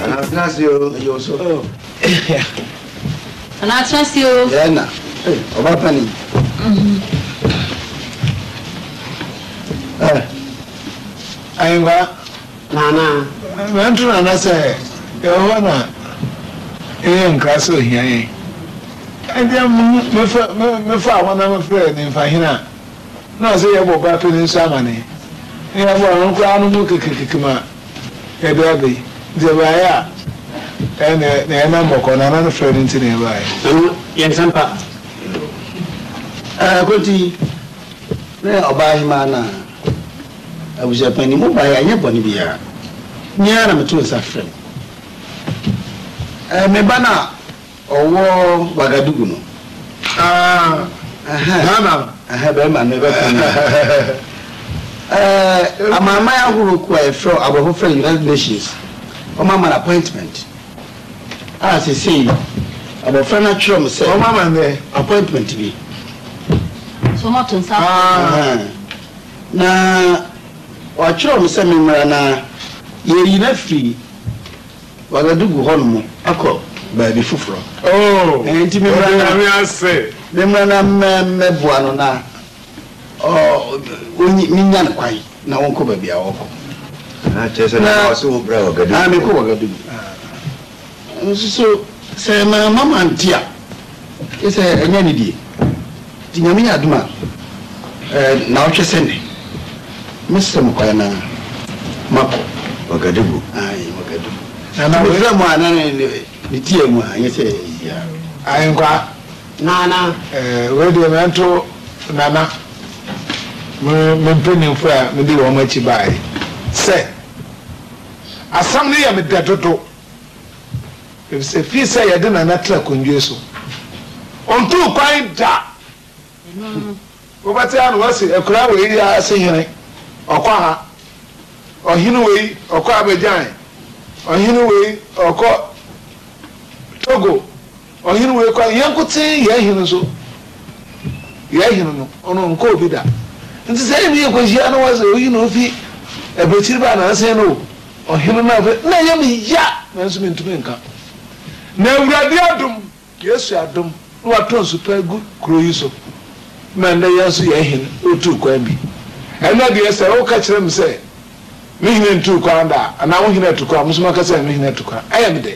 Anatena ase o, ɛyɛ ɔsɔ. Anatena ase o. Yɛn na, ɔba pani. Ayiwa. Nana. Nanto nana sɛ yɛwɔ na yɛyɛ nkra sɛ ohia yɛn. Ɛdeɛ mefa wɔn a mefrɛ ne mfahena. Na ɔsɛ yɛbɔ ba pɛ no nso amanee, na yɛboa no, ɔno koraa no mu kekekeke ma yɛde aba yi, nti ɛbaeɛ a ɛnna na yɛn nan bɔkɔɔ, Nana no frɛɛ no nti na yɛbaeɛ. Ɛno yɛ nsɛm pa. Ɛɛ Koti, ne ɔbaahemaa no a abusuapɛn ni, mobaeɛ a ɛnyɛ bɔne biara, me ara na metoo nsa frɛɛ mo. Ɛɛ me ba no a Ɔwɔ Wagadugu no. Aah Ghana no. Ɛhɛn bɛrima no bɛka no. Ɛɛ amanman ahorow kuo a yɛfrɛ aborɔfo frɛ no United Nations wɔn ama no appointment a sesei abɔfra no atwerɛ me sɛ wɔn ama no dɛ appointment bi. So wɔn ato nsa afrɛ no. Aah na wɔatwerɛ me sɛ me mmra na yɛyi no afiri Wagadu gu hɔnom akɔ baabi foforɔ. Enti memmra na memmra na mmɛboa no na mennya no kwan na ɔnkɔ baabi a ɔrekɔ. Kyerɛ sɛ na ɔse wo bra Wagadugu. Mekɔ Wagadugu. Nso so sɛ mamma mante a. Gye sɛ ɛnyɛ anidie. Nti Nyame yɛ adom a, ɛɛ nnawɔtwe sɛ nnɛ, mɛsrɛ mo kwan na makɔ. Wagadugu. Aane, Wagadugu. Nti mefrɛ mo a, na ne ti yɛ mu a, ɛnyɛ sɛ biribiara. Ahenkwaa, Nana. Ɛɛ wei deɛ mɛnto Nana me me mpaninfoɔ a medi wɔn akyi baeɛ sɛ, asɛm no yɛ me dɛ dodo. Efisɛ fii sɛ yɛde Nana tena kondwe so, ɔntuu kwan da. Wobɛte a na wɔase, Akuraa wei yɛ ara se hene, ɔkɔ ha. Ɔhene wei, ɔkɔ Abidjan. Ɔhene wei, ɔkɔ Togo. Ɔhen wei koraa yɛn nkotsee yɛn hen so yɛn hen no ɔno ɔnnkɔɔ bi da ntsi sɛ emi yɛ kɔhyia no wɔse oyi na ofi abakyir baa nansen no o ɔhen no afei na yɛ me ya nanso menntumi nka na awurade adom yesu adom na watɔ nsu pa agu kuro yi so ma ndɛ yɛn nso yɛn hen otuu kwan bi ɛnɛ deɛ sɛ wo ka kyerɛ me sɛ me hen ntuu kwan da a anaa wo hen atu kwan mo nso maka sɛ me hen atu kwan ɛyɛ me dɛ.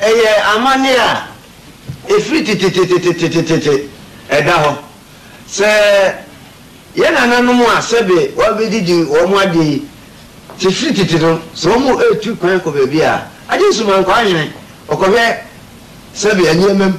Ɛyɛ amanneɛ a ɛfiri tetetetetetete ɛda hɔ sɛ yɛn nananom a sɛbe wɔabɛdidi wɔn adeɛ yi te firi tete no, sɛ wɔn retu kwan kɔ baabi a, agye nsumankɔ ahene, wɔkɔhwɛ sɛbe nneɛma mu.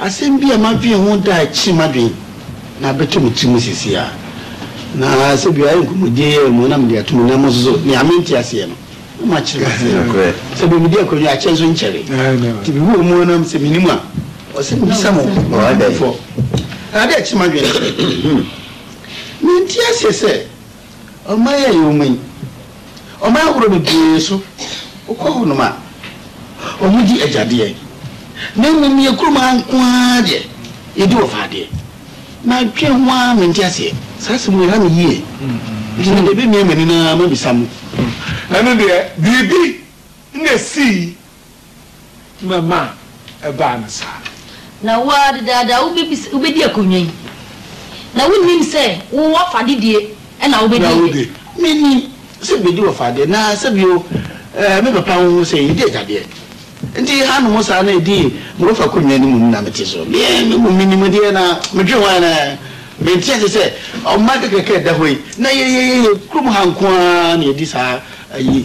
Asɛm bi a madwen ho daa akyiri m'adwen na abɛtɔ me tirim seesei a, na sɛ bi a ayɛ nkɔmmɔdie yi ara mu na mede ato mo nan mu nso nea mente aseɛ no na makyerɛ mo aseɛ nokorɛ sɛ berɛ medi akwannya akyɛ nso nkyɛre nti mehu wɔn ara nam sɛ menim a ɔsɛ mebisa mo mpanimfoɔ na ade a akyiri m'adwen ne sɛ mente aseɛ sɛ Ɔman a yɛwɔ mu yi, ɔman ahorow bebree so, wokɔ hɔnom a, wɔdi agyadeɛ, na mmom yɛn kurom ha nko ara deɛ, yɛdi wɔfadeɛ. Madwene ho ara, mente aseɛ. Saa asɛm wei, ɛha me yie, enti mede bɛmia m'ani na mabisa mo. Ɛno deɛ, biribi na ɛsii. ma ma ɛbaa no saa. Na wo ara dedaada wobɛbisa, wobɛdi akonnwa yi, na wonnim sɛ wo w'afade die na wobɛdi yi de. Mennim sɛ bɛdi w'afadeɛ, na sɛ bio, eh, me papa wohu sɛ yɛdi agyadeɛ, nti hanom saa na ɛdi ma wofa akonnwa no mmom na mete so. Me mmom mennim deɛ na medwene ho anaa, mente ase sɛ ɔman kakraka a ɛda hɔ yi, na yɛyɛ yɛyɛ kurom ha nko ara na yɛdi saa ayi.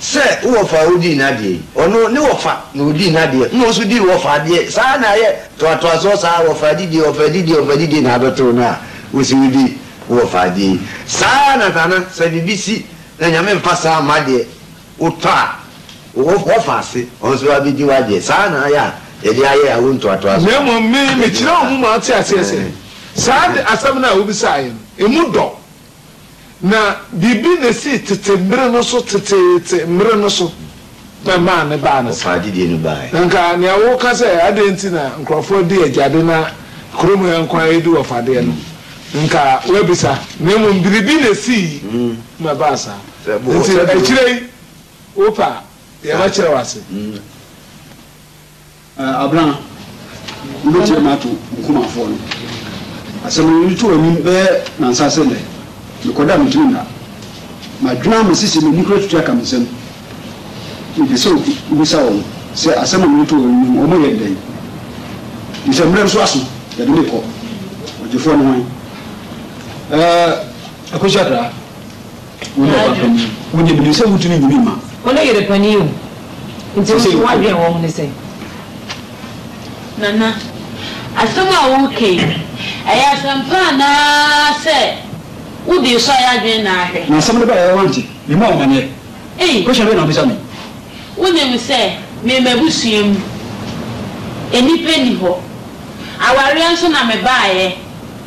Sɛ wo wɔfa a wodii n'adeɛ yi, ɔno, ne wɔfa na ɔdii n'adeɛ, ɛna wo nso dii wo wɔfa adeɛ, saa ara na ayɛ toatoasoɔ saa, wɔfa adidie, wɔfa adidie, wɔfa adidie na abɛtoo no a wo se wodi wo wɔfa adeɛ yi. Saa ara na Thana, sɛ biribi si na Nyame mfa saa mma deɛ, wotɔ a, wo wɔfa ase, ɔno nso abɛdi w'adeɛ, saa ara na ayɛ a yɛde ayɛ awo ntoatoasoɔ. Na mmom me, mekyerɛɛ wɔn ma wɔte aseɛ sɛ, saa de, asɛm no a wobisaeɛ no, emu dɔ. Na biribi na esii tete mmere no so, teteete mmere no so, na ɛmaa ne baa no saa. Ɔfaa gyidie no baeɛ. Na anka nea woreka sɛ adɛn nti na nkurɔfoɔ di agyade na kurom ha nko ara yɛdi wɔfadeɛ no, anka woabisa, na mmom biribi na esii ma ɛbaa saa. Enti akyire yi, wopɛ a, yɛbɛkyerɛ wo ase. Abena, wobɛtie me ato Nkumafoɔ no asɛm no. Mereto w'anim bɛyɛ nnansa ase nnɛ, mekɔda a mentumi nna. Madwene ama sese m'ani koraa tutu aka me nsam. Mepɛ sɛ wobisa wɔn sɛ asɛm a mereto wɔn anim no wɔyɛ no dɛn, efisɛ mmerɛ nso aso, yɛde me rekɔ. Ɔgyefoɔ no hwan? Ɛɛ, Akosua Kra. Wo ne ɔba panin yi. Wo deɛ menim sɛ wontumi nyi me mma. Wo ne yere panin o. Nti wo nso w'adwene wɔ ho ne sɛn? Nana, asɛm a woreka yi, ɛyɛ asɛm pa anaasɛ wode resɔ yɛn adwene na ahwɛ? Na asɛm no baeɛ a woante? Mema wo amaneɛ. Ei! Question bɛn na wobisa me yi? Wonim sɛ me m'abusua mu nnipa nni hɔ. Awareɛ nso na mebaeɛ.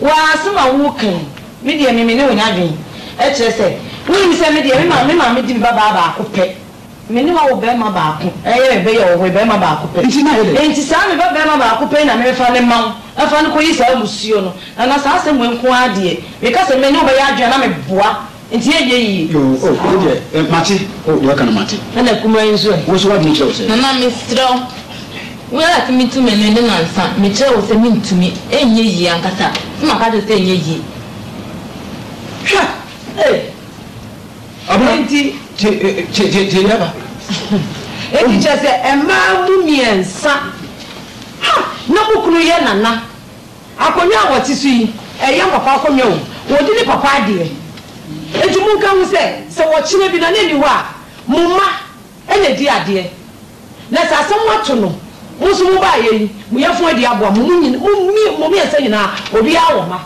Wo ara asɛm a woreka yi, me deɛ me me ne wo nya adwene. Ɛkyerɛ sɛ, wonim sɛ me deɛ me ma me maame di me babaa baako pɛ. Me ne wo awo barima baako. Ɛyɛ me bɛ yɛ wo hoe barima baako pɛ. Nti na ayɛ dɛn? Nti saa me ba barima baako pɛ yi na me bɛfa no ma wo, na fa no kɔyi saa mmusuo no. Na na saa asɛm wei nko ara deɛ, meka sɛ me ne wo bɛyɛ adwene a na meboa. Nti ɛnyɛ yie. Yoo oh wei deɛ eh mate oh deɛ ɔka no mate. Ɛna kumaa yi nso ɛ? Wo nso w'adwene kyerɛ wo sɛ. Nana mesrɛ wo wo ara tumi to me ne Nana nsa mekyerɛ wo sɛ mentumi ɛnyɛ yie ankasa sɛ maka akyerɛ wo sɛ ɛnyɛ yie hwɛ eh Abena nti tie tie tie tie deɛ aba Enti kyerɛ sɛ mmaa mu mmiɛnsa ha na mo kunu yɛ Nana Akonnwa a wɔte so yi, ɛyɛ papa akonnwa o, wɔdi ne papa adeɛ. Enti monka ho sɛ, sɛ wɔkyena bi na ne nni hɔ a, mo mma na ɛdi adeɛ. Na sɛ asɛm ato no, mo nso mobaeɛ yi, mo yafunu adi aboa mo, mo mmiɛnsa nyinaa, obiara wɔ mma.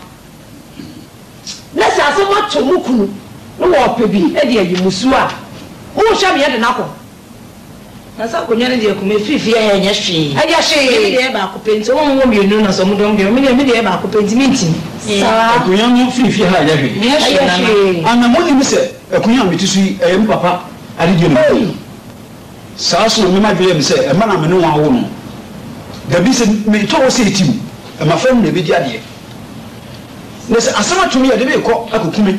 Na sɛ asɛm ato mo kunu na ɔrepɛ bi de ayi mo su a, monhwɛ me yɛde no akɔ. Na sɛ akonnwa no deɛ koma ɛfiri fie ha ɛnyɛ hwee. Ɛnyɛ hwee. Ɛnyɛ me deɛ ɛyɛ baako pɛ nti wɔn wɔ mmienu na sɛ wɔn dɔm deɛ me deɛ me deɛ ɛyɛ baako pɛ nti mentumi saa. Akonnwa no firi fie ha ɛnyɛ hwee. Ɛnyɛ hwee nana. Ana monnim sɛ akonnwa a mete so yi ɛyɛ me papa adedie na ɔde ma me. Saa nso na me mma dwene me sɛ ɛmma na me ne wɔn awo no. Dabi sɛ metɔ hɔ sei tim ɛmafra no na ɛbɛdi adeɛ. Na sɛ asɛm ato me yi ɛde me rekɔ akɔku me.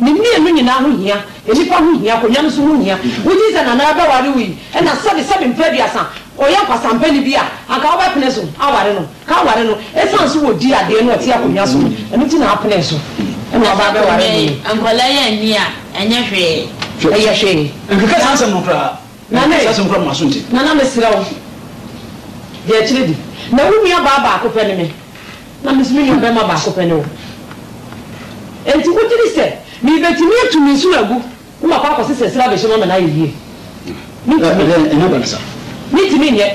Ne mmienu nyinaa ho hia, nnipa ho hia, konwa no so ho hia. Wogye sɛ Nana bɛware wo yi, ɛna sɛbe sɛbe mpa aduasa, ɔyɛ kwasampani bi a, anka wobɛpene so aware no? Ka ware no, ɛsiane so wɔdi adeɛ na ɔte akonwa so no, ɛno nti na wapene so, ɛna ɔba abɛware wo yi. Nkwadaa yi anni a, ɛnyɛ hwee. Ɛyɛ hwee. Nkeka saa nsɛm no koraa. Na me. Kasa so mfa m'aso nte. Na na mesrɛ wo deɛ ɛkyerɛ di. Na wo nuabaa baako pɛ ne me, na me nso me nuabarima baako pɛ ne wo. Enti wogye di sɛ merebɛtumi atu me nsono agu na makɔ akɔsesa ɛserɛ abɛhyɛ mu ama no ayɛ yie? Mentumi. Ɛnna ba no sa. Mentumi nyɛ.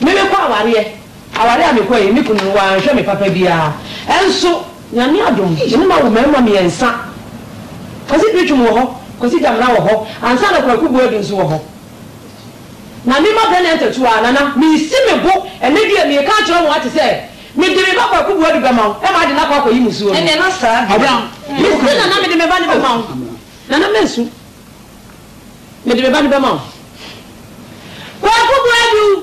Merekɔ awareɛ. Aware a mekɔe yi, me kunu no wanhwɛ me papa biara. Nso, Nyame adom, me ne no awo mmarima mmiɛnsa. Kwasi Preachum wɔ hɔ, Kwasi Gyamena wɔ hɔ, ansa na Kwaku Boadu nso wɔ hɔ. Na me mma brɛ me antatu ara, Nana, mesi me bo ɛnnɛ deɛ meka akyerɛ wɔn ate sɛ, mede me ba Kwaku Boadu bɛma wo, ɛma ade no akɔ akɔyi musuo no. Mese Nana mede me ba no bɛma wo, Nana mansu, mede me ba no bɛma wo, Kwaku Boadu.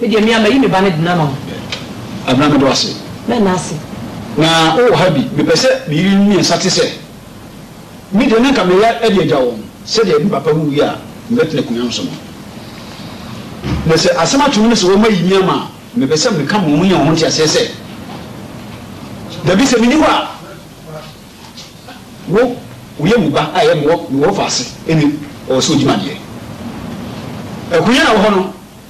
Me deɛ me a mayi me ba no dena ma wo. Abena meda wo ase. Mɛnna ase. Na wo wɔ ha bi. Me pɛ sɛ me yerenom mmiɛnsa te sɛ me deɛ na nka me ya de agya wɔn sɛdeɛ me papa wuiɛ a me bɛ tena akonwa no so no. Na sɛ asɛm ato mu ne sɛ wɔn ayi me ama a me pɛ sɛ me ka ma wɔn nya wɔn ho nteaseɛ sɛ dabi sɛ me nni hɔ a wo wo yɛ mu ba a ɛyɛ me wɔ me wɔ fa ase ɛne ɔwɔ sɛ ɔdi ma deɛ akonwa a wɔ hɔ no.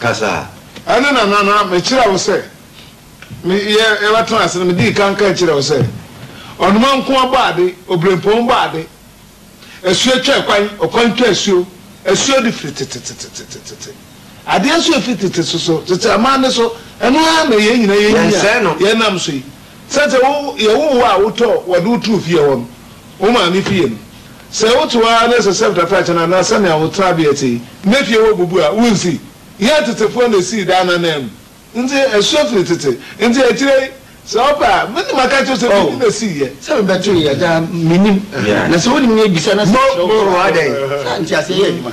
kasa. Ɛno na na na mekyerɛ wo sɛ me yɛ yɛbɛtena ase no medii kan ka kyerɛ wo sɛ ɔnoma nko ara bɔ ade, obirɛmpɔn bɔ ade, asuo twa ɛkwan, ɔkwan twa asuo, asuo de firi tetetetetetete, adeɛ nso efiri tete so so, tete amanne so, ɛno ara na yɛn nyinaa yɛn nyi a yɛnam so yi. Sɛ sɛ wo yɛ wo wo a wotɔ wɔde wo too fie hɔ no, wo maame fie no, sɛ wote hɔ ara na sɛ sɛf da fakyɛ no anaa sɛnea wo tenabea te yi na fie hɔ bubu a, wonsi. Yɛn tetefoɔ na esii daa no ananmu nti ɛsoa firi tete nti akyire yi sɛ wopɛ a me na maka akyerɛ wo sɛ me ni na esii yɛ. Sɛ me bɛto yɛ agya a me nim na sɛ wonim na bisa na sɛ kyerɛ wo so a saa nteaseɛ yɛ adwuma.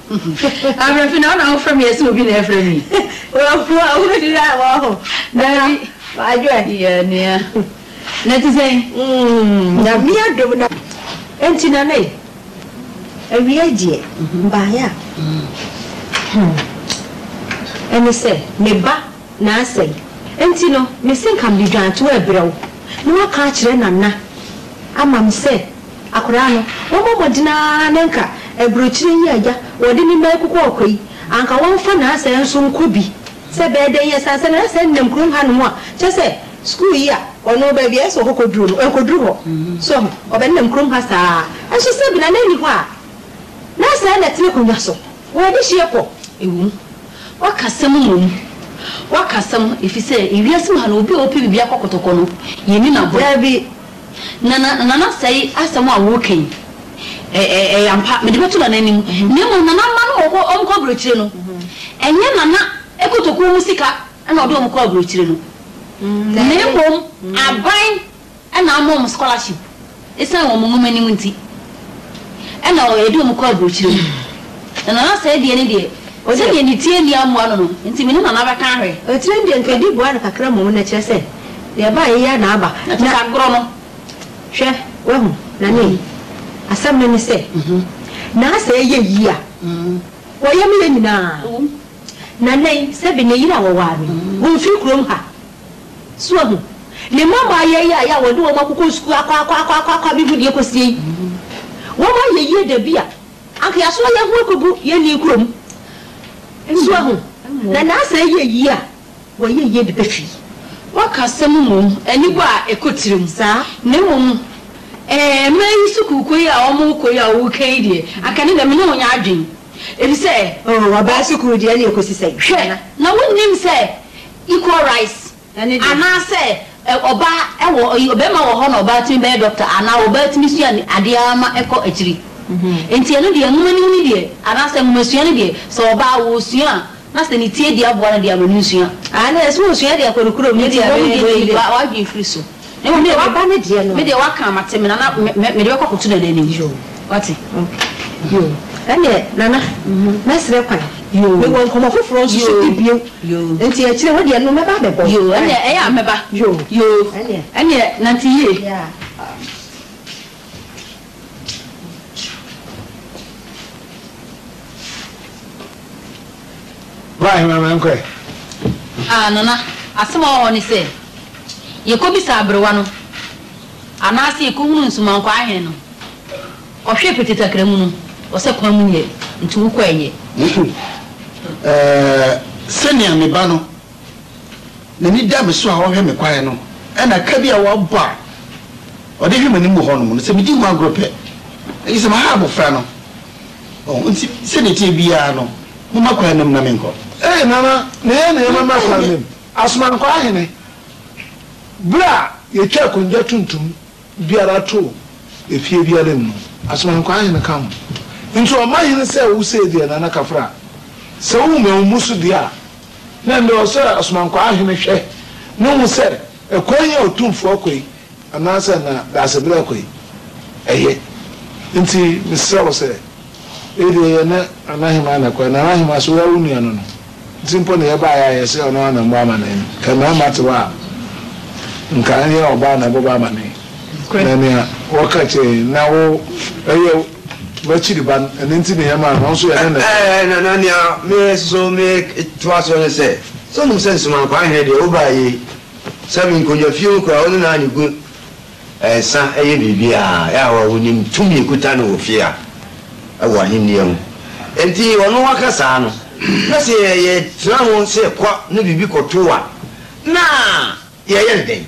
Abrɛfi na wo na wo frɛ me yɛ sɛ obi na ɛfrɛ me yi. Wahu a wo hyira a wahu. Dabi wadwo adi yɛ nua. Na ɛte sɛn? Mm Nyame adom na. Ɛnti Nana e, awiei deɛ mbaeɛ a hmm ɛne sɛ me ba na asɛe. Enti no, mese nka mede dwantoa rebrɛ wo, na woaka akyerɛ Nana ama me sɛ akwadaa no, wɔmmɔ mmɔden ara na nka aburokyire yi a agya wɔde ne mma reko kɔ ɔkwa yi, anka wɔmfa Naasɛe nso nkɔ bi. Sɛ ɛbɛyɛ dɛn ara, ɛsiane sɛ Naasɛe nenam kurom hanom a, kyerɛ sɛ, sukuu yi a ɔno, baabi a ɛyɛ sɛ ɔkɔkɔduru no, ɛnkɔduru hɔ. So ahu? Ɔbɛnenam kurom ha saa ara. Nanso sɛbe Nana nni hɔ a, Naasɛe na ɛte n'akonnwa so. Wɔn adehyeɛ kɔ, ɛwom, wɔaka asɛm mmom, wɔaka asɛm, ɛfiri sɛ ewiase mu ha no, obi a ɔpɛ biribi akɔkɔtɔkɔ no, yɛnni no agorɔ. Dabi, Nana, Nana asɛe asɛm a woreka yi, ɛ, ɛ, ɛyɛ ampa, mede bɛto Nana anim, na mmom Nana mma no wɔkɔ, wɔnkɔ aburokyire no, ɛnyɛ Nana kotokuo mu sika na ɔde wɔn kɔ aburokyire no, na mmom aban. Ɛna ama wɔn scholarship ɛsiane wɔn nwomanim nti. Ɛna wɔde wɔn kɔ aburokyire mu. Na Nana Asɛe deɛ ne deɛ, sɛdeɛ ne tire nni amoa no no nti me ne Nana bɛka ahwɛ. Tire no deɛ nka ɛdi boa no kakra mmom na ɛkyerɛ sɛ deɛ ɛba a ɛyɛ ara na aba. Na kyerɛ sɛ agorɔ no. Hwɛ, wahu, Nane, asɛm no ne sɛ, Na Asɛe yɛ yie a, wɔyɛ me yɛ nyinaa. Ɛwom. Nana yi, sɛbe ne yere a wɔwaa no yi, wɔmfiri kurom ha. So wahu? Ne mma mmaa yɛɛyae a wɔde wɔn akokɔ sukuu akwaakwaakwaakwaakwa bi ho deɛ kɔsie yi, wɔn ayɛ yie da bi a, anka yɛasoa yɛn ho akɔgu yɛn nii kurom. So wahu? Na Naasa ayɛ yie a, wɔayɛ yie de bɛfi. Wɔka asɛm mmom, anibɔ a ɛkɔ tirim. Saa. Na mmom, ɛɛ, mmaa yi sukuukɔ yi a wɔrekɔ yi a woreka yi deɛ, anka ne deɛ me ne wo nyɛ adwene. Ɛfiri sɛ, oo, ɔbaa sukuu deɛ ɛnneɛ kɔsi sɛn? Hwɛ, na wonnim sɛ. equal rights anaa sɛ ɔbaa ɛwɔ ɔyi ɔbɛɛma wɔ hɔ na ɔbaa tumi bɛyɛ doctor anaa ɔbaa tumi sua ne adeɛ ara ma ɛkɔ akyiri nti ɛno deɛ nwoma nim no deɛ anaa sɛ nwoma sua no deɛ sɛ ɔbaa wɔ sua a na sɛ ne tiadie aboa no deɛ ama no nsua. Aane sɛ wɔ sua deɛ kɔ no kurom ne deɛ ɛbɛyɛ bɛyɛ yi deɛ. Nti wɔn deɛ yi wa w'adwene firi so. Mmom deɛ waba ne deɛ no. Me deɛ waka mate me nana mede bɛkɔ akoto nana anim wate. Yoo ɛneɛ nana mɛsrɛ kwan mewɔ nkɔmɔ foforɔ nso so di bio nti akyire wo deɛ no mɛba abɛbɔ wo. Yoo ɛneɛ ɛyɛ a mɛba yoo ɛneɛ nante yie. Bra ahema ma yɛnkɔ ɛ. Ah Nana, asɛm a ɔwɔ hɔ ne sɛ, yɛkɔbisa aberewa no anaasɛ yɛkɔhunu nsumankwaa he no. Ɔhwɛɛ petetakra mu no, ɔsɛ kwan mu nyɛ, nti wokɔ ɛ nyɛ. Ɛɛ, sɛnea me ba no. N'ani da me so a ɔhwɛ me kwan no, ɛna ka bi a wabɔ a ɔde hwɛ m'anim wɔ hɔnom no, sɛ midi ho agorɔ pɛ, agye sɛ maha abofra no. Oh, enti sɛnea ɛteɛ biara no, momma kwan na mu na menkɔ. Ee, Nana, na ɛyɛ nea ɛbɛma kwan na mu. Asomankwa ahene, bere a yɛtwa akonnwa tuntum biara to efie biara mu no, Asomankwa ahene ka ho. Nti ɔma hene sɛ wo sei deɛ, Nana Kafra, sɛ wohu me a wommu so deɛ a, Na nea ɔsɛ asomankwaa hene hwɛ no hu sɛ ɛkwan yi a otumfoɔ kɔ yi anaasɛ na Daasebrɛ kɔ yi ɛyɛ. Enti mesrɛ wo sɛ, wei deɛ yɛ ne Nanahemaa na ɛkɔ, Nanahemaa sɛ wo ara wo nua no no nti mpo na yɛbaeɛ a yɛsɛ ɔno ara na mmɔ amanee no, nka mmarima te hɔ a nka ɛnyɛ ɔbaa na ɛbɛbɔ amanee. Nokorɛ. Na nea wɔka kyerɛɛ yɛn, na wo ɛyɛ w'akyiri ba no, ɛno nti na yɛmaa no, ɔnso yɛne no te. Ɛɛ, na na nea me nso meretoa soɔ ne sɛ, sɛ wonim sɛ Nsomankwaa Hene deɛ wobaeɛ yi, sɛ menkɔnya fie mu koraa, ɔno na ne gu nsa yɛ biribiara, yɛ a wonim tumi ɛkuta no wɔ fie ha wɔ ahennie ho, enti ɔno waka saa no, na sɛ yɛtena ho sɛ yɛkɔ ne biribi kɔto a, na yɛyɛ no dɛn?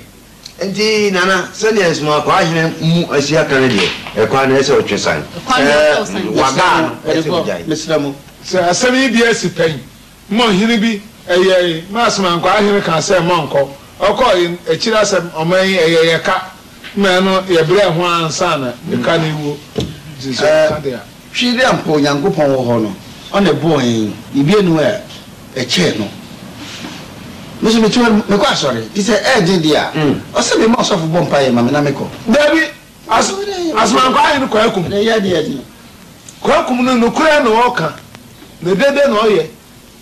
Enti, Nana, sɛdeɛ nsomakwaa hene mu asia ka no deɛ, ɛkwan no ɛsɛ ɔtwe san. Sɛ wagaa no, ɛsɛ ɔgyae. Mesrɛ mo, sɛ asɛm yi bi asi pɛn, mo ɔhene bi ɛyɛɛe ma asomankwaa hene kaa sɛ monkɔ. Ɔkɔɔe no, akyiri asɛm, ɔman yi ɛyɛ yɛ ka, ma ɛno yɛbrɛɛ ho ara ansa na yɛka ne wuo. Enti sɛ ɔka deɛ a. Twi dɛ ampa Onyankopɔn wɔ hɔ no, Ɔna bɔɔ hɛn. Biribi nnyi hɔ a ɛkyɛn No. Me so metse hɔ no, mekɔ asɔre, ntsi sɛ ɛyɛdzen dze a, ɔsɛ mema ɔsɔfo bɔ mpae ma me na mekɔ. Dabi, asomankwa ahen Kwakum? Kwakum no, nokorɛ na ɔka, na dede na ɔyɛ.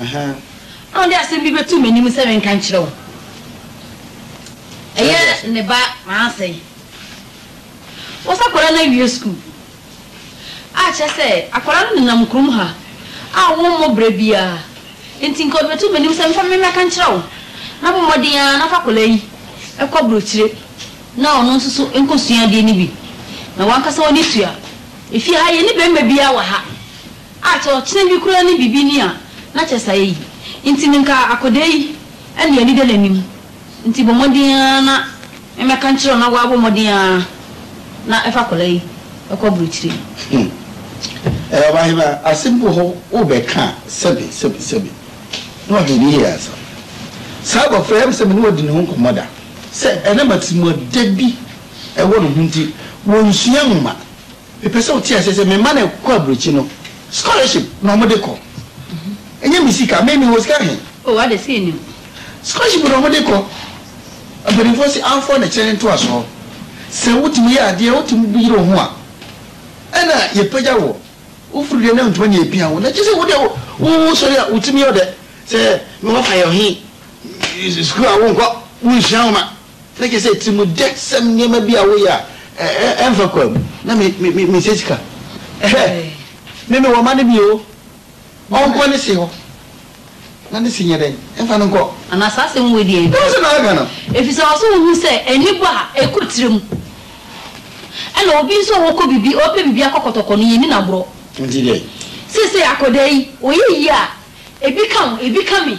Ahaa. Ɔde asɛm bi bɛto m'anim sɛ menka nkyerɛ wo. Ɛyɛ ne ba Manase. Wɔsɛ akwadaa no awie sukuu. A, kyerɛ sɛ, akwadaa no nenam kurom ha a wɔmmɔ berɛ biara. Enti nka ɔde bɛto m'anim sɛ mfa memmɛka nkyerɛ wo, na bɔ mmɔden ara na fa akwadaa yi kɔ aburokyire na ɔno nso so nkɔsua adeɛ no bi, na w'ankasa w'ani tua. Efie ha, yɛnni barima biara wɔ ha. A kyɛ ɔkyena bi koraa ne biribi ni a, na kyɛ saa eyi nti me nka akɔdaa yi ɛnde anida n'anim nti bɔ mmɔden ara na mmɛka nkyerɛ no na w'abɔ mmɔden ara na ɛfa akɔdaa yi ɛkɔ aburokyire. Hum ɛɛ ɔbahema asɛm bi wɔ hɔ wo bɛ ka a sɛbi sɛbi sɛbi na w'ahwɛ ne yie ansa saa abɔfra yi ɛm sɛ me ne w'adi ne ho nkɔmɔ da sɛ ɛnam atimuɔdɛ bi ɛwɔ ne ho nti w'ɔnsua nwoma. Mepɛ sɛ wote aseɛ sɛ me mma no ɛkɔ aburokyi no scholarship na wɔde kɔ ɛnyɛ me sika me mewɔ sika he? Oh adɛ sɛ yɛnim. Scholarship na wɔde kɔ mpaninfoɔ se amfoɔ na kyerɛ ne ntoasoɔ sɛ wotumi yɛ adeɛ wotumi yere wo ho a ɛna yɛpagya woɔ wofiri deɛ na ntoma na yɛpia wo na kyerɛ sɛ wodeɛ wo sɔre a wotumi yɛ ɔdɛ sɛ me wɔfa yɛ ɔhe sukuu a wonkɔ wonsua nwoma Na kyerɛ sɛ tirimdɛsɛm nneɛma bi a woyɛ a ɛmfa kwan mu na mesɛ sika. Ɛhɛ, me mewɔ mma no bi o, ɔnkɔ ne se hɔ na ne se nyɛ dɛn? Ɛmfa no nkɔ. Anaa saa asɛm wei deɛ. Ɛwɔ sɛ na aka no. Efisɛ ɛwɔ sɛ wohu sɛ ani bɔ a ɛkɔ tiri mu. Ɛna obi nso a ɔkɔ biribi, ɔpɛ biribi akɔ kɔtɔkɔ no, yenni no agorɔ. Nti dɛn? Seesei akwadaa yi, ɔyɛ yie a, ebi ka wo, ebi ka me.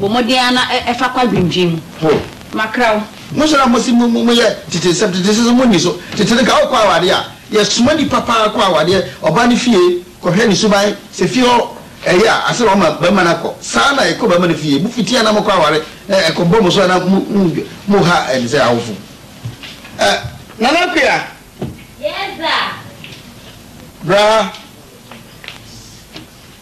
Bɔ mmɔden ara na fa kɔ adwendwen mu. Ho. Makra wo. Monsɔre a monse mo mo yɛ tete nsɛm tete nsɛm so monni so tete no ka ɔkɔ awadeɛ a yɛ soma nipa paa kɔ awadeɛ ɔbaa no fie kɔ hwɛ ne suban sɛ fie hɔ ɛyɛ a ansa na wama barima no akɔ saa na ɛkɔ barima no fie mo fiti a na mokɔ aware na ɛkɔ bɔ mo so a na mo mo mo ha ɛne sɛ awofo ɛ Nana Akua. Yes sir. Bra.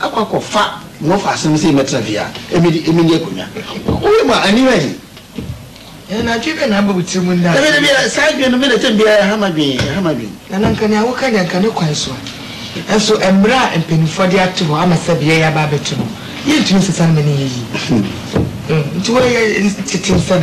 akɔ akɔfa Wɔfa asɛm sɛ mɛtra fie a ɛmɛ de ɛmɛ ni akonnwa wɔ wɔ mu a aniwa yi. Ɛɛ na adwene bɛn na aba wo tirim nnɛ a. Dabi dabi ɛ saa adwene no me na ɛtɛm biara ɛha m'adwene ɛha m'adwene. Nana nka nea woka deɛ nka ne kwan so nso mmara a mpaninfoɔ de ato hɔ ama sɛ beaɛ yi aba abɛto no yɛntumi nsesa no ma no nyɛ yie nti woyɛ tete nsɛm.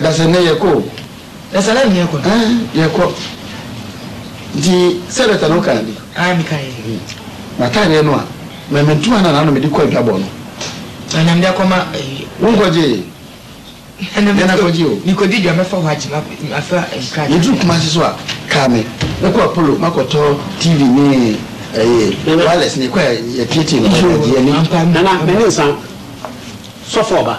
Dasani na yɛkɔ o. Dasani na yɛkɔ. Ɛɛ yɛkɔ. Nti sɛdɛta no kae bi. Ae me kae. Mataadeɛ no a mɛ me ntoma na naano mede kɔ adwabɔ no. Na na mede akɔma ɛyi. Wo nkɔgyee. Ɛna me nakɔgye o. Me kɔdi dwa mɛfa hɔ agye ma afa nkrataa. Yɛduru kumase so a kaa me mɛkɔ apolo makɔtɔ TV ne ɛyi wireless ne kɔ a yɛtietie no. Nana mene nsa sɔfo ɔba.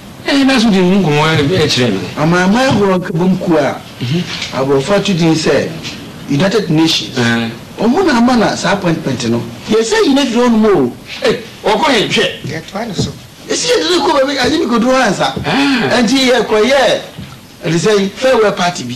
Ɛnna yɛdaa so dii ho nkɔmmɔ kyerɛɛ no. Amanaman ahorow nkabom kuw a aborɔfo ato din sɛ United Nations, wɔn na ama no saa appointment no. Yɛsan nnyina fii hɔnom oo. Ei, wɔkɔ he? Hwɛ! Yɛtoa no so. Esi yɛde no kɔɔ baabi, agye me kodu hɔ ansa. Enti yɛkɔyɛɛ te sɛ farewell party bi.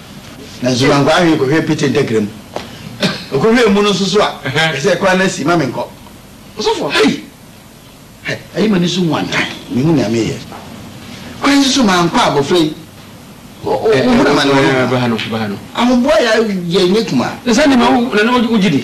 Nanso mankɔ ahwee kɔhwɛɛ Pete ntakra mu. Ɔkɔhwɛɛ mu no nso so a, ɛsɛ sɛ ɛkwan no asi ma menkɔ. Ɔsɔfoɔ, hei! Ayi m'ani so nwantan, mehu nea meyɛ. Kwan yi so mankɔ a, abɔfra yi, ɔhunu amane wɔ me ho. Ahoboa yɛ nyɛ kumaa. Na saa nneɛma na na wogye di?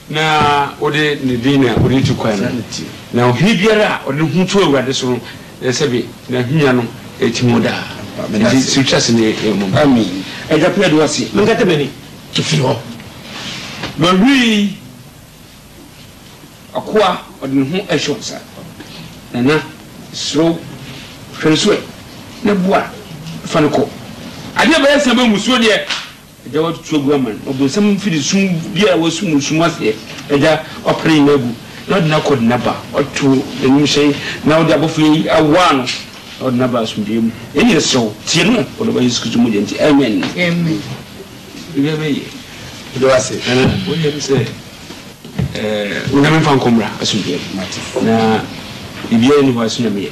Na wode ne din na wode tu kwan no, na ohene biara a ɔde ne ho to Awurade so no, na sɛbe n'ahennwa no tim hɔ daa. Enti so wotwa ase nnɛ yi mmom? Amen. Agya, meda wo ase. Menkata m'ani mfiri hɔ. Mawie akoa ɔde ne ho ahyɛ wo nsa. Nana, mesrɛ wo, hwɛ no so ɛ, na boa no fa no kɔ. Adeɛ bɛyɛ sɛ ma mmusuo deɛ Agya watutu agu ama no. Ɔbonsam mfiri sum biara a wasum no sum aseɛ. Agya wapene nyinaa agu, na ɔde no akɔ ɔde no aba. Wato n'anim hyɛn, na ɔde abɔfoɔ yi awoa no, na ɔde no aba asomdwoeɛ mu. Yɛn nyinaa srɛ wo, tie no wɔ ɔdɔba Yesu Kristo mogya nti. Amen. Amen. Biribiara bɛyɛ. Meda wo ase. Nana, woyɛ me sɛ eh, Onyame mfa nkɔ mmra asomdwoeɛ mu. Na biribiara nni hɔ a ɛso Nyame yɛ.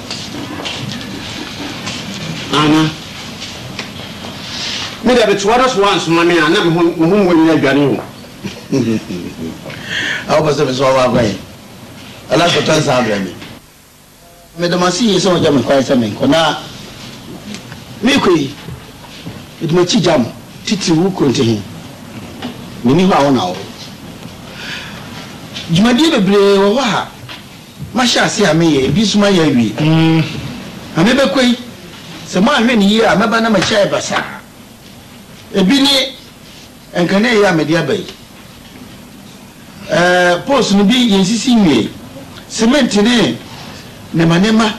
Ana me deɛ bɛtoa da so ansoma me a na me ho me ho mu nyina adwane o awo pɛ sɛ me sɔ wakwan yi ɛna sɛ tɔ nsa abrɛ me mede mase yie sɛ wɔgya me kwan sɛ menkɔ na mekɔ yi mede makyi gya mo titiri wo kuro nte he menni hɔ a wo na wo dwumadie bebree wɔ hɔ a Mahyɛ ase a meyɛ, ebi nso mayɛ awie. Na mebɛkɔ yi, sɛ moanhwɛ no yie a, mɛba na m'akyi ayɛ basaa. Ebi ne nkane yi a mede aba yi. Ɛɛ, poles no bi yɛnsisi nwiei. Semɛnte ne nneɛmanneɛma,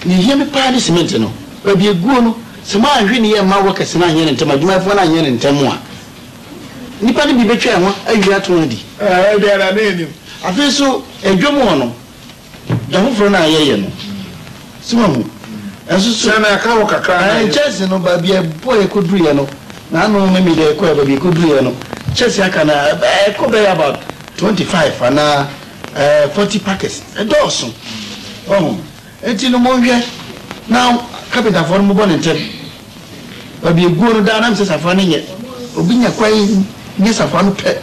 nea ɛhia me paa ne semɛnte no. Baabi a ɛguo no, sɛ moanhwɛ no yie amma workers no anyɛ no ntɛm, adwumayɛfoɔ no anyɛ no ntɛm a, Nnipa no bi bɛtwa ɛho awie ato ho adi. Ɛɛ, ebia na ne nim. Afei nso, adwa mu hɔ no, da foforɔ no a yɛyɛ no, so wahu? Ɛnso so. Sɛ na ɛka hɔ kakra na. Ɛɛ, nkyɛnse no, baabi a ɛbɔ a ɛkɔduruiɛ no, na ano memi deɛ ɛkɔɛ, baabi a ɛkɔduruiɛ no, nkyɛnse aka no a, ɛɛ, ɛkɔ bɛyɛ about twenty five anaa, ɛɛ, forty packets. Ɛdɔɔso, wahu? Enti no monhwɛ na kapentafoɔ no mobɔ no ntɛm, baabi aguo no daa na mesɛ safra no nyɛ, obi nya kwan nya safra no pɛ,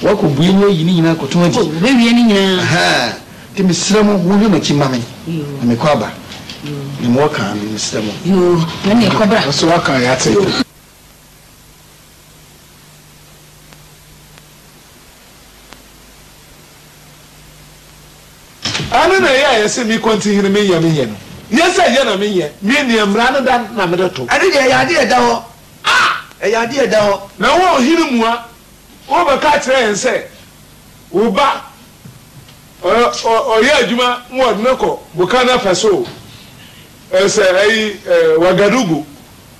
wɔakɔ bue no ayi ne nyinaa akɔtɔn adi. Oh, wɔbɛwie ne nyinaa. Ahaa, nti mesrɛ mo monhwɛ mo akyi mma me, na mekɔ aba. Yoo. Deɛ mowɔ kaa no, mesrɛ mo. Yoo, ɛnneɛ kɔbra. Ɔsɛ woaka a yɛate. Ɛno na ɛyɛ a yɛse me kɔntihene me nyɛ me nyɛ no nyɛ sɛ yɛ na me nyɛ me nea mmara no da na mede to. Ɛno deɛ ɛyɛ adeɛ a ɛda hɔ a ɛyɛ adeɛ a ɛda hɔ. Na wo ɔhene mua wobɛka akyerɛ yɛn sɛ wo ba ɔyɛ adwuma ma wɔde no kɔ boka no afasuo sɛ ayi Wagadugu.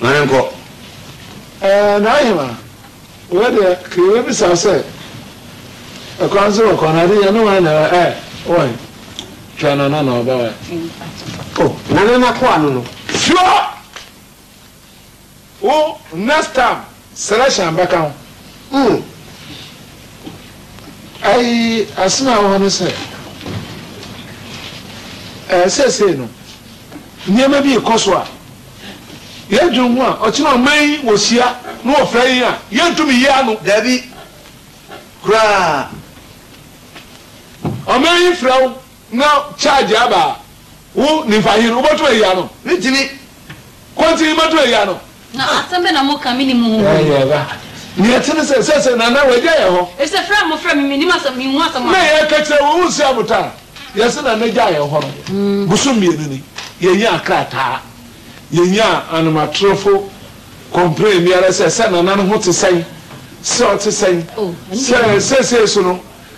Ma no nkɔ. Ɛɛ, Nahima, wei deɛ ka yɛbɛbisa sɛ, Ɛkwan so wɔ kwan, ade yɛ ne wan na ɛwɔ ɛ, wɔ he? Twa no na na ɔba wɔ he? Oh, Nana n'akoa no no. Sure! Wo next time selection bɛka ho. Ooh ayi asem a ɛwɔ hɔ ne sɛ ɛɛ seesei no nneɛma bi rekɔ so a yɛ dwen ho a ɔkyena ɔman yi wɔ hyia no wɔ fɛ yi a yɛ ntumi yi ano. Dabi koraa ɔman yi frɛ wo. Na charge aba a, wo nimfahen wobɛtum ayi ano? Mentumi. Kwanti mɛtum ayi ano? Na asɛm bɛn na moka, menni mo ho hwee. Ɛyɛ ba. Nea ɛte ne sɛ, seesei Nana wagya yɛn hɔ. Efisɛ frɛ a mofrɛ me, mennim asɛm, menhu asɛm a. Na yɛka kyerɛ wo, wonsi abotan a. Yɛse Nana gyaa yɛn hɔ no, bosom mmienu ni, yɛnyaa krataa. Yɛnyaa anomatorofo complain biara sɛ, sɛ Nana no ho te sɛn, sɛ ɔte sɛn, sɛ seesei so no,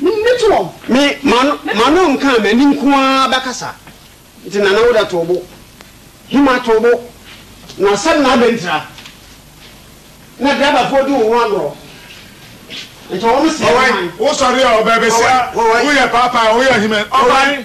Mennye toom. Me, m'ano, m'ano nkaa, m'ani nko ara bɛkasa. Nti Nana wo da too bo. Hima too bo. Na asɛm no abɛ ntira. Na driverfoɔ di wo ho agorɔ. Nti wɔn sɛɛ wo man. Ɔwan, wo sɔre a, ɔbɛɛbɛsia, wo yɛ paapaa, wo yɛ hima, ɔwan?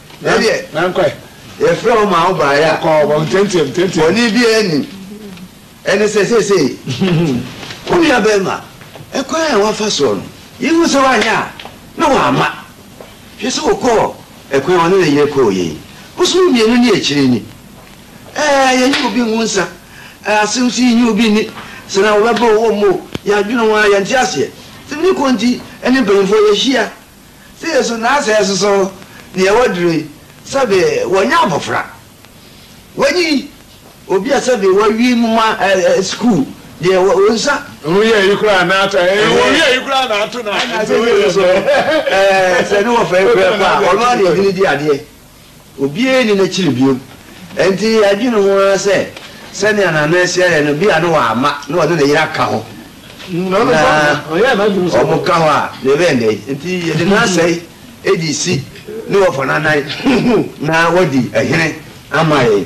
Nankwɛ. Yɛfrɛɛ wo maa wobaeɛ a. Kɔ wɔn nteateam teateam. Bɔne biara nnim. Ɛne sɛ seesei wo nuabarima, ɛkwan a woafa soɔ no, yɛhu sɛ woanyɛ a na woamma. Hwɛ sɛ wokɔɔ ɛkwan a ɔne ne yere kɔeɛ yi. Bosome mmienu ne akyire ni. Ɛɛ, yɛnnye obi ngu nsa. Ɛɛ, asɛm nso yi nnye obi nni. Sɛ na wɔbɛbɔ wo wɔ mu o, yɛadwene ho ara, yɛnte aseɛ. Sɛ merekɔ nti, ɛne mpanimfoɔ yɛahyia. sɛ yesu na asɛ soso nea ɛwɔ duro yi sɛbe wɔnyɛ abofra wɔnyi obi a sɛbe wɔawi moma ɛɛ sukuu deɛ wɔ wɔn nsa. Wɔn yɛ yi koraa na ato ɛɛ wɔn yɛ yi koraa na ato na ɛna asɛ soso ɛɛ sɛ ne wɔfɛ fɛ kɔ a ɔno ara na ɛdini di adeɛ. Obiara nni n'akyiri bio. Enti adwene ho ara sɛ, sɛnea Nana Asia yɛ no, ebia na wamma na ɔne ne yere aka hɔ, na wɔka hɔ a, na ɛbɛyɛ dɛn? Enti yɛde n'asɛe de si ne wɔfa no anan na wadi hene ama yɛn.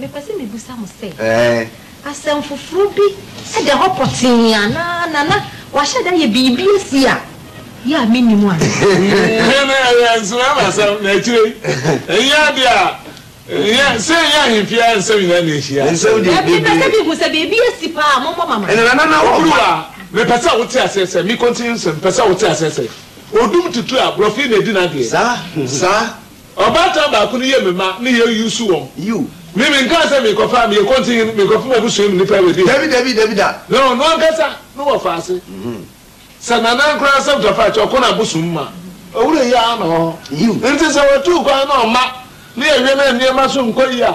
Mepɛ sɛ mibisa mo sɛ, asɛm foforo bi da hɔ pɔtee anaa na na wɔahyɛ da ayɛ biribi asi a yɛ a minnim anaa? Ɛno yɛ nsram asɛm, na akyire yi, ɛnyɛ ade a ɛnyɛ sɛ ɛnyɛ ahemfie ara nsɛm nyinaa na ehyia. Mepɛ sɛ mihu sɛ biribi asi paa a, mommɔ me amanneɛ. Oburuwa, Mepɛ sɛ wote aseɛ sɛ, me continue nsɛm, mepɛ sɛ wote aseɛ sɛ, odum tutu a, borɔfo yi na edi n'adeɛ. Saa. Ɔbaatan baako no yɛ me mma na yɛ use wɔn. Yiw. Me me nkaa sɛ me kɔfa, me yɛ kɔnten hene, me kɔfa m'abusua mu nnipa abedi hene. Dabi, dabi, dabi da. Na ɔno ankasa na ɔfaa ase sɛ Nana Ankorankye Asɛm Tafakyɛ ɔko na abosom ma owura yi ara na ɔwɔ hɔ. Yiw. Nti sɛ wɔtuu kwan na ɔmma ne yɛ wɛn a nneɛma so nkɔ yie a,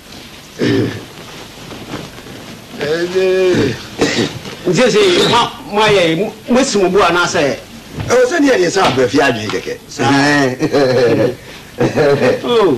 Nti seesei ma moayɛ yi, moasi mo bo anaasɛ? Ɛwɔ sɛ ne yɛ deɛ sɛ abrɛ fie adwene kɛkɛ. Oh.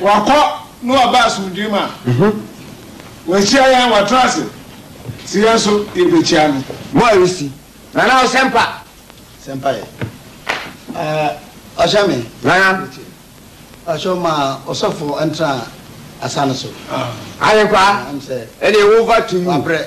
Wakɔ na waba asomdwoe mu a, wakyia yɛn, watena ase se yɛn nso yɛbɛkyia no. Mo a resi. Nana Ɔsɛmpa. Sɛmpa yɛ. Eh, ɔhyɛ me. Nana. Metie. Ɔhyɛ ma ɔsɔfo ntra asa no so. Ahenkwa, ɛne wo va to you. Wabrɛ.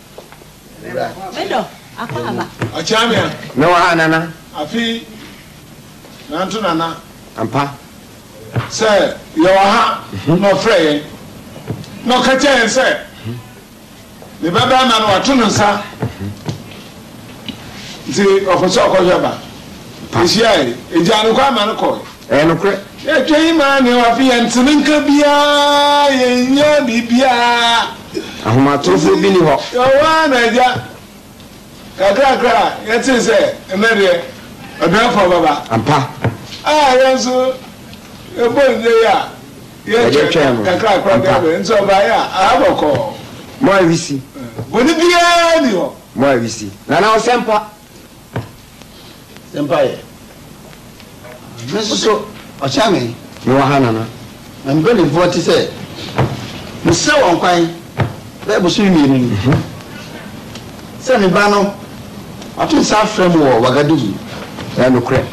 mewɔ ha nana afei nanto nana ampa sɛ yɛwɔ ha mhm. na ɔfrɛ yɛn na ɔka kyɛ yɛn sɛ mhm. ne bɛbɛrima no wato no nsa mhm. nti ɔkɔ sɛ ɔkɔhwɛ ba ɛhyiae ɛgyaa no kɔ ama no kɔe Ɛyɛ nokorɛ. Yɛtwɛn yi maa nea wafe yɛn nte ne nka biara, yɛnnya biribiara. Ahomatorofoɔ bi nni hɔ. Yɛwɔ ara na Agya. Kakrakra a yɛtee sɛ, Ɛnnɛ deɛ, Ɔdɛɛfoɔ bɛba. Ampa. A yɛn nso yɛbɔ nnye yi a yɛtwɛn no kakrakra deɛ bɛn. Nso ɔbaeɛ a, aha bɔkɔɔ. Mo a wisi. Bɔne biara nni hɔ. Mo a wisi. Nana Ɔsɛmpa. Mpaeɛ. Me nso so, ɔkyea me. Mewɔ ha, Nana. Na mpanimfoɔ te sɛ. Mesrɛ wɔn kwan bɛyɛ bosome mmienu ni sɛ me ba no wato nsa afrɛ me wɔ Wagadugu. Ɛyɛ nokorɛ.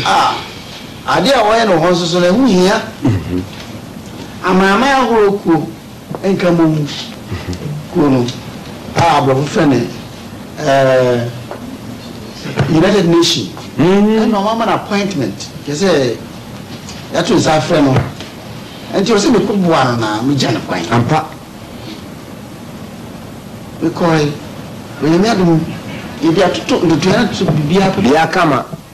A, adeɛ a wɔyɛ no wɔ hɔ nso so no, ɛho hia. Amanaman ahorow kuo. Nkramowu kuo no a aborɔfo frɛ no United Nation ɛna ɔmo ama no appointment kyerɛ sɛ yɛato nsa afrɛ no nti ɔsɛ mekɔ boa no na megya no kwan ampa mekɔe onyame adom yɛde atoto ntotoɛ no to biribiara biribiara kama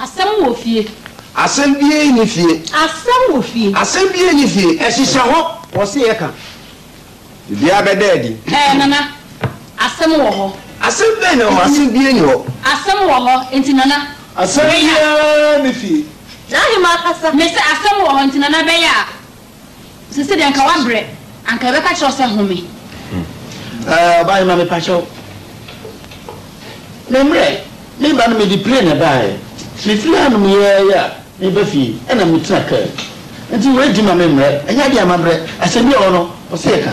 Asɛm wɔ fie. Asɛm biara nni fie. Asɛm wɔ fie. Asɛm biara nni fie. Ɛhyehyɛ hɔ. Wɔse yɛka. Biribiara bɛda adi. Ɛɛ Nana, asɛm wɔ hɔ. Asɛm bɛn na ɛwɔ hɔ? Asɛm biara nni hɔ. Asɛm wɔ hɔ, enti Nana. Asɛm biara nni fie. N'ahemmaa kasa. Mese asɛm wɔ hɔ, enti Nana bɛyɛ a. Sese deɛ anka wabrɛ, anka yɛbɛka kyerɛ wo sɛ home. Ɛɛ ɔbahema mepakyɛw, memmrɛ. Me ba no mede plane na ɛbaeɛ. Mefiri ha nom yɛɛ yɛ a, meba fie ɛna metena car mu. Nti wei di ma memmrɛ, ɛnyɛ adeɛ a mabrɛ. Asɛm bi wɔ hɔ no, ɔsɛ yɛka.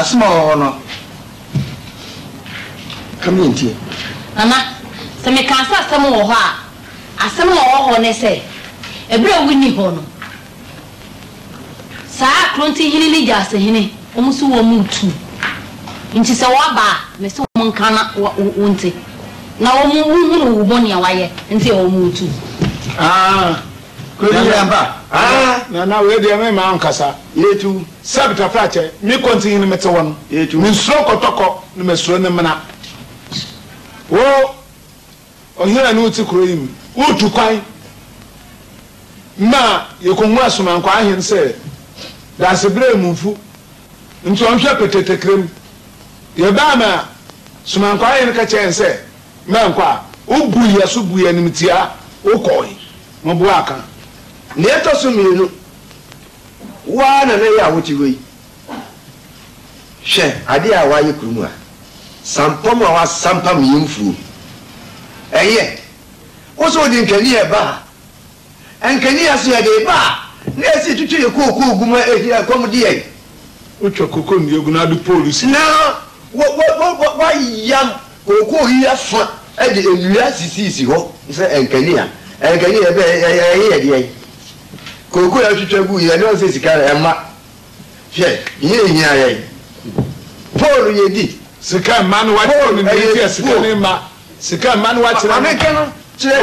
asoma wɔ hɔ no kame ntie nana sɛ meka sɛ asɛm wɔ hɔ a asɛm na wɔ hɔ ne sɛ ɛberɛ a wonni hɔ no Saa Kronti hene ne Gyasi hene, wɔn nso wɔn retu. Enti sɛ wɔba a, mese wɔn nka na wonte, na wɔn nhunu wo bɔne a woayɛ nti a wɔn retu. Aah! Kronti hene ampa? Aah! Nana, wei deɛ me mmaa nkasa. Yɛtu. Seb Tafrakye, me Kronti hene mete hɔ no, mensuro kɔtɔkɔ na masuro ne mena. Wo! Ɔhene a na ɔte kuro yi mu no tu kwan ma yɛkɔhu Asomankwaa Ahen sɛ Daasebrɛ Mumfo nti ɔnhwɛ Petetekre mu. Yɛbaa ma Somankwaa Ahen ka kyerɛɛ yɛn sɛ mɛnkɔ a, ɔbuu yɛn so buu yɛn animtiaa, ɔkɔɔe. Moboa ka. Nea ɛtɔ so mmienu, wo ara na na ɛyɛ a wote hɔ yi. Hwɛ ade a wɔayɛ kuro mu a sampam a wɔasampam yɛn mfuo. Ɛyɛ wo sɛ wode nkaneɛ reba ha? Nkaneɛ so yɛde ba a, na ɛsɛ yɛtwitwa yɛn kookoo gu mu a ɛhia ɛkɔm de yɛn. Wotwa kooko nnua gu na wode poolu si. Na wɔayam kookoo yi afa de nnua asisisisi hɔ sɛ nkanea. Nkanea ɛbɛ ɛyɛ yɛn deɛn? Kookoo a yɛtwitwa gu yi, ɛno nsɛ sika, ɛmma Hwɛ, iyi nnhia yɛn. Paul, Yedi. Sika mma no wakyerɛ no nea enti a sika no mma. Sika mma no wakyerɛ no.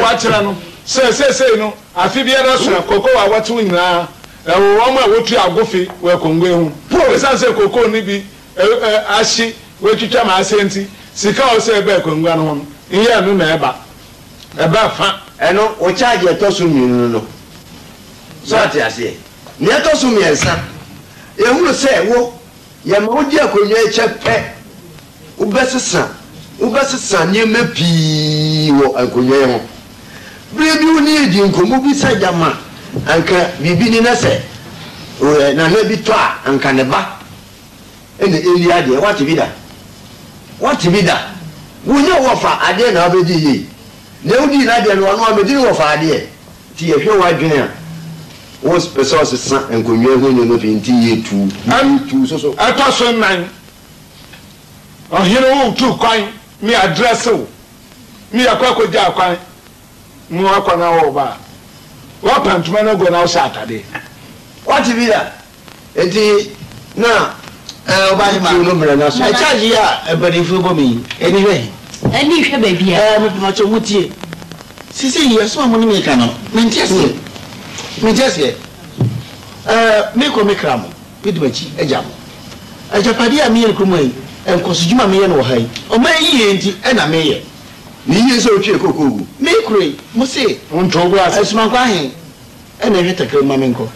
Wakyerɛ no sɛ seesei no afe biara soa cocoa a wɔtew nyinaa wɔ wɔn a wotua agofe wɔ akongua ho. Esiane sɛ cocoa no bi ahye, wɔatwitwa ma asɛe nti, sika a ɔwɔ sɛ ɛba akongua no ho no, nyɛ ɛno na ɛba. Ɛba fã. Ɛno, wo charge a ɛtɔ so mmienu no no. So ate aseɛ? Nea ɛtɔ so mmiɛnsa, yɛhunu sɛ wo, yɛma wodi akonnwa yi kyɛ pɛ, wobɛsesa, wobɛsesa nneɛma pii wɔ nkonnwa yi ho. Bere bi wo ne yɛn dii nkɔmmɔ bi sɛ gyama anka biribi ni na sɛ nana bi tɔ a anka ne ba na ɛnni adeɛ. Woate bi da? Woate bi da? Wonnya wɔfa adeɛ na wobɛdi yie. Nea wodii n'adeɛ no, ɔno ara medi no wɔfa adeɛ. Nti yɛhwɛ w'adwene a, wo pɛ sɛ ɔsesa nkonnwa ho nneɛma pii nti yɛ tu, yɛ tu so so. Ɛtɔ so nnan, ɔhene wo tu kwan, me adrɛse wo, me yɛkɔ akɔgyaa kwan, me wakɔ na wo ba a, woapa ntoma no agu na wohyɛ atadeɛ. Wate bi da? Enti na ɛɛ ɔbaa yi tiw no brɛ no ase. Nana. Charge yi a mpaninfoɔ bɔ me yi, ani hwɛ he? Ani hwɛ baabi a. Ɛɛ mepakyɛw mo tie. Seesei yi asɛm a mo ne me reka no, mente aseɛ. Mente aseɛ. Ɛɛ mekɔ me kra mo, medi m'akyi agya mo. Agyapadeɛ a meyɛ no kurom ha yi, nkɔsodwuma a meyɛ no wɔ ha yi, ɔman yi yie nti na meyɛ. Ne yie sɛ wotwe kooko gu. Mekura yi, mo se. Wontow bo ase. Asumankwa he, Ɛna hwɛ takra mu ma me nkɔ.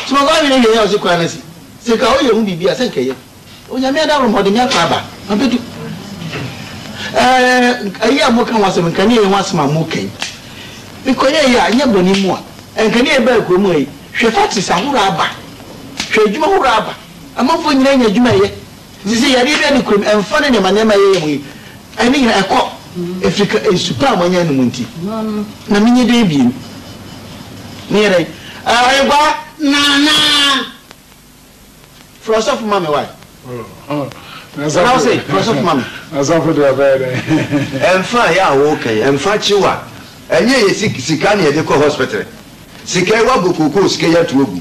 Somafo Ahwene hwɛɛ Yaw se koraa na se, Sɛ nka woyɛ ho biribi a, sɛ nka ɛyɛ. Onyame adaworo ma ɔde me akɔ aba. Mabedu. Ɛɛ, ayi a moka ho asɛm, nka ne ɛyɛ ho asɛm a moka yi. Mekɔyɛɛ yi a, nyɛ bɔne mu a, ɛnka ne yɛbaa kurom ha yi. Hwɛ factories ahorow aba. Hwɛ adwuma horow aba. Amanfoɔ nyinaa nya adwuma yɛ. Nti sɛ yareɛ bi ani kurom ɛmfa ne nneɛma nneɛma yɛyɛ mo yi ɛne nyinaa ɛkɔ ɛfiri ka nsu pa a moanya anom nti na menyɛ dɛn biom meyɛ dɛn ɛɛ ɔyɛkwaa Nana frɛ ɔsɔfo ma me wae na ɔse frɛ ɔsɔfo ma me Asɔfo deɛ ɔbɛyɛ dɛn ɛmfa yɛ a woka yi ɛmfa kyew a ɛnyɛ yɛ sika na yɛde kɔ hospital sika yi woabɔ kookoo sika yi ato agu.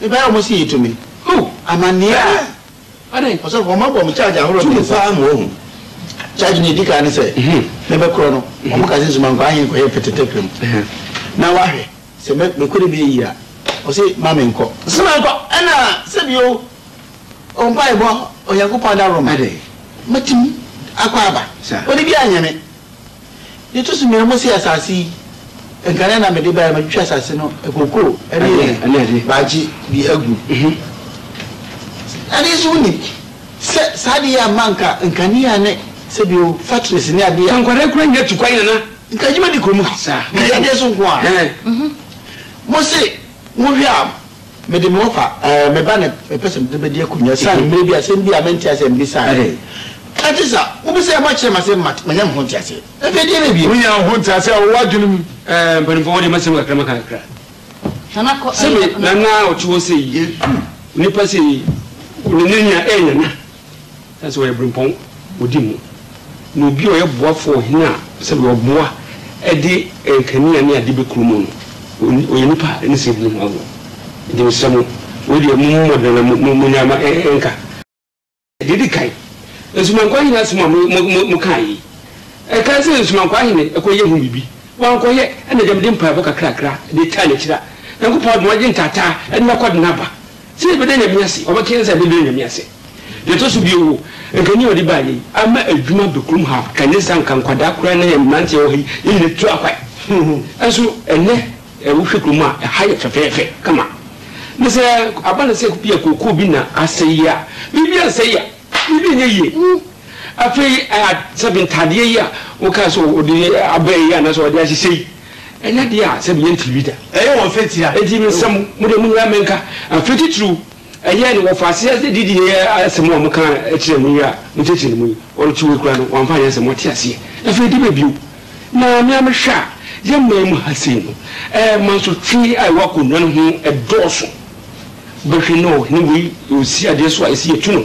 Mebɛyɛ ɔmo se yetumi. Ho amaneɛ a. Adɛn? Ɔsɔfo, ɔmo abɔ me charge ahorow mmiɛnsa. Tumi paa ma wahu. Charge no edi kan ne sɛ, mɛbɛkorɔ no. Ɔmo ka sɛ, soma nkwahen nkɔyɛ petetekre mu na wahwɛ. Sɛ mɛ, mekɔ ne bɛ eyi a, ɔse, ma me nkɔ. Soma nkɔ. Ɛna sɛ bio, ɔ mpae bɔ Onyankopɔn adaworoma. Adɛn? Mɛtumi akɔ aba. Saa. Ɔde biara nyɛ me. Deɛ ɛto so mmienu, mose asase yi, nkane na mede baeɛ, matwitwa asase no nkoko ne bagye bi agu. Adeɛ nso wonim sɛ saa adeɛ yi amma anka nkanea ne sɛbio factories ne adeɛ a. Nkwadaa kura nya tu kwan nana. Nka adwuma di kɔ mu. Nka yɛ adeɛ so nko ara. Mose, wohwɛ a. Mede me wɔfa, ɛɛ, me ba na mepɛ sɛ mede bɛdi akonnwa ɛsiane mmerɛ bi a asɛm bi a mente aseɛ mbisaeɛ. Ɛnte saa. Wobisa a moakyerɛ me ase ma manya me ho nteaseɛ. Afei deɛ ɛbɛn bio? Wonya wo ho nteaseɛ a ɛwɔ w'adwene mu? Ɛɛ, mpanimfoɔ, wɔde m'asɛm kakra maka kakra. Sɛ me nana a ɔte hɔ sei, onipa sei, ne nana, ɛɛ, nana. Ɛsɛ sɛ wɔyɛ berempɔn wɔ di mu, na obi a ɔyɛ boafo wɔ ɔhene a sɛdeɛ ɔboa de nkanea ne ade bɛkuro mu no, ɔyɛ nipa a ne sɛɛ di ne ho agorɔ. Enti mesrɛ mo, wei deɛ mo mmɔdena na monnyae ma ɛnka. Deɛ ɛdi kan, nsumankwaa hene asɛm a mokaa yi, ɛkae sɛ nsumankwaa hene kɔyɛ ho biribi, wankɔyɛ, ɛnna agya mede mpaebɔ kakrakra de taa n'akyiri a, Nyankopɔn adom agye ntaataa de no akɔ de no aba. Sɛ yɛbɛda Nyame ase, ɔbɛka yɛn sɛ yɛbɛda Nyame ase. Deɛ ɛtɔ so bio, nka nea ɔde baayɛ yi ama adwuma abɛ kurom ha, ɛne saa nka nkwadaa koraa ne yɛn mmeranteɛ wɔ ha yi, yɛn nyina atu akwan. Nanso ɛnnɛ wohwɛ kurom a, ɛha yɛ fɛfɛɛfɛ kama. Na sɛ aba no sɛ bi a kookoo bi na asɛe yi a, biribi ansɛe a, biribi nyɛ yie. Afei sɛbe ntaadeɛ yi a wokaa sɛ ɔde aba yi anaasɛ ɔde ahyehyɛ yi, Ɛnyɛ deɛ a sɛ meyɛ ntiri bi da. Ɛyɛ wɔn fɛ tia. Enti mensɛ mo, mo deɛ monnyina me nka. Afei titiriw, ɛyɛɛ no wɔfaa aseɛ de didi yɛɛ asɛm a mokaa kyerɛɛ me yi a mokyerɛkyerɛ no mu yi. Ɔrete hɔ yi koraa no, wamfa anyɛ asɛm, ɔte aseɛ. Afei de bɛ bio. Na me ara mehwɛ a, yɛn man mu ha sei no, ɛɛ, mansotwe a ɛwɔ akonnwa no ho dɔɔso. Bɛhwɛ na ɔhene wei, ɔsi adeɛ so a, ɛsɛ yɛtu no.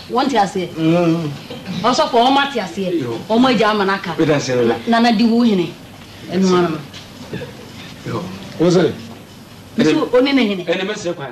Wɔn te aseɛ ɔsɔfo wɔn ate aseɛ wɔn agya ama no aka na na di wo hene ɛno ara no wɔsɛ ɛne ɔne ne hene ɛne mɛsɛ kwan